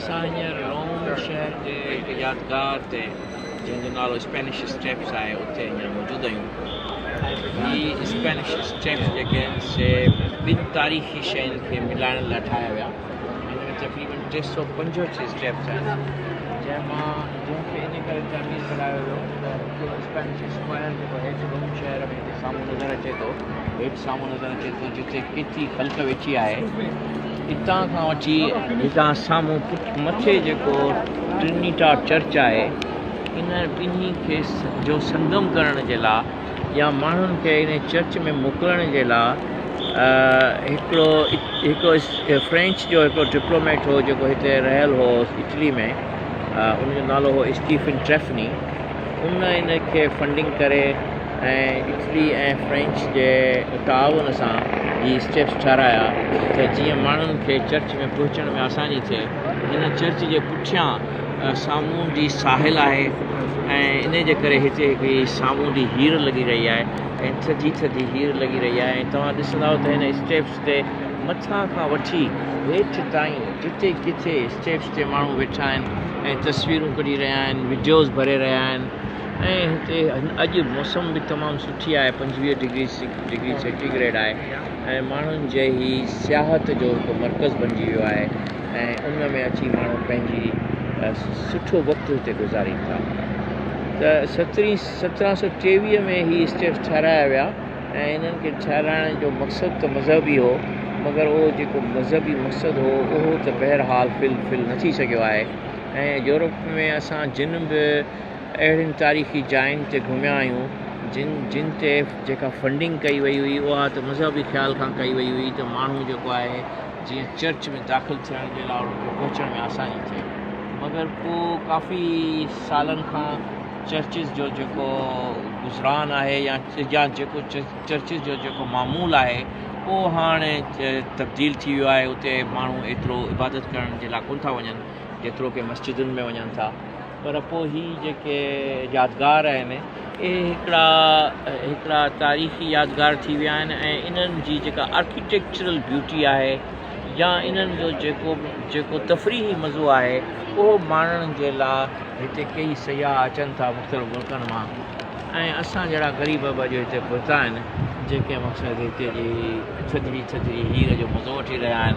اسان هينئر روم شهر جي هڪ يادگار تي جنهن جو نالو اسپينش اسٽيپس آهي اتي هينئر موجود آهيون ۽ هي اسپينش اسٽيپس جيڪي آهن سي ٻن تاريخي شين کي ملائڻ لاء ٺاهيا ويا هن ۾ تقريبن ٽي سؤ پنجهٺ اسٽيپس آهن جنهن مان جنهن کي ان ڪري تعمير ڪرايو ويو ته هڪ اسپينش اسڪوائر جيڪو هيٺ روم شهر ۾ هتي سامهون نظر اچي ٿو هيٺ سامهون نظر اچي ٿو جتي ڪيٿي خلق ويٺي آهي اتان کان وٺي هتان سامهون پٺ مٿي جيڪو ٽرنيٽا چرچ آهي ان ٻنهي کي جو سنگم ڪرڻ جي لاء يا ماڻهن کي ان چرچ ۾ موڪلڻ جي لاء هڪڙو هڪڙو فرينچ جو هڪڙو ڊپلوميٽ هو جيڪو هتي رهيل هو اٽلي ۾ ان جو نالو هو اسٽيفن ٽريفني ان ان کي فنڊنگ ڪري ۽ اٽلي ۽ فرينچ جي تعاون سان هي اسٽيپس ٺهرايا ته جيئن ماڻهن کي چرچ ۾ پهچڻ ۾ آساني ٿئي. هن چرچ جي پٺيان سامونڊي ساحل آهي ۽ ان جي ڪري هتي هڪڙي سامونڊي هير لڳي رهي آهي ۽ ٿڌي ٿڌي هير لڳي رهي آهي ۽ توهان ڏسندائو ته هن اسٽيپس تي مٿان کان وٺي هيٺ تائين جتي ڪٿي اسٽيپس هتي ماڻهو ويٺا آهن ۽ تصويرون ڪڍي رهيا آهن وڊيوز ڀري رهيا آهن ۽ هتي اڄ موسم به تمام سٺي آهي پنجويهه ڊگري ڊگري سينٽي گريڊ آهي ۽ ماڻهن جي هي سياحت جو هڪ مرڪز بنجي ويو آهي ۽ ان ۾ اچي ماڻهو پنهنجي سٺو وقت هتي گذارين ٿا سترهين سترهن سو ٽيويهه ۾ هي اسٽيپس ٺهرايا ويا ۽ انهن کي ٺهرائڻ جو مقصد ته مذهبي هو، مگر اهو جيڪو مذهبي مقصد هو، اهو ته بهرحال فل فل نه ٿي سگهيو آهي ۽ يورپ ۾ اسان جن به اهڙين تاريخي جاين تي گهميا آهيون، جن جن تي جيڪا فنڊنگ ڪئي وئي هئي، اها ته مذهبي خيال کان ڪئي وئي هئي ته ماڻهو جيڪو آهي، جيئن چرچ ۾ داخل ٿيڻ جي لاء انهن کي پهچڻ ۾ آساني ٿئي، مگر پوء ڪافي سالن کان. چرچز جو جيڪو گذران آهي يا جا جيڪو چرچز جو جيڪو معمول آهي اهو هاڻي تبديل ٿي ويو آهي اتي ماڻهو ايترو عبادت ڪرڻ جي لاء ڪونه ٿا وڃن جيترو ڪي مسجدن ۾ وڃن ٿا پر پوء هي جيڪي يادگار آهن اهي هڪڙا هڪڙا تاريخي يادگار ٿي ويا آهن ۽ انهن جي جيڪا آرڪيٽيڪچرل بيوٽي آهي يا انهن جو جيڪو جيڪو تفريحي مزو آهي اهو ماڻڻ جي لا هتي ڪيئي سياح اچن ٿا مختلف ملڪن مان ۽ اسان جهڙا غريب به اڄ هتي پهتا آهن جيڪي مقصد هتي جي ٿڌڙي ٿڌڙي هير جو مزو وٺي رهيا آهن.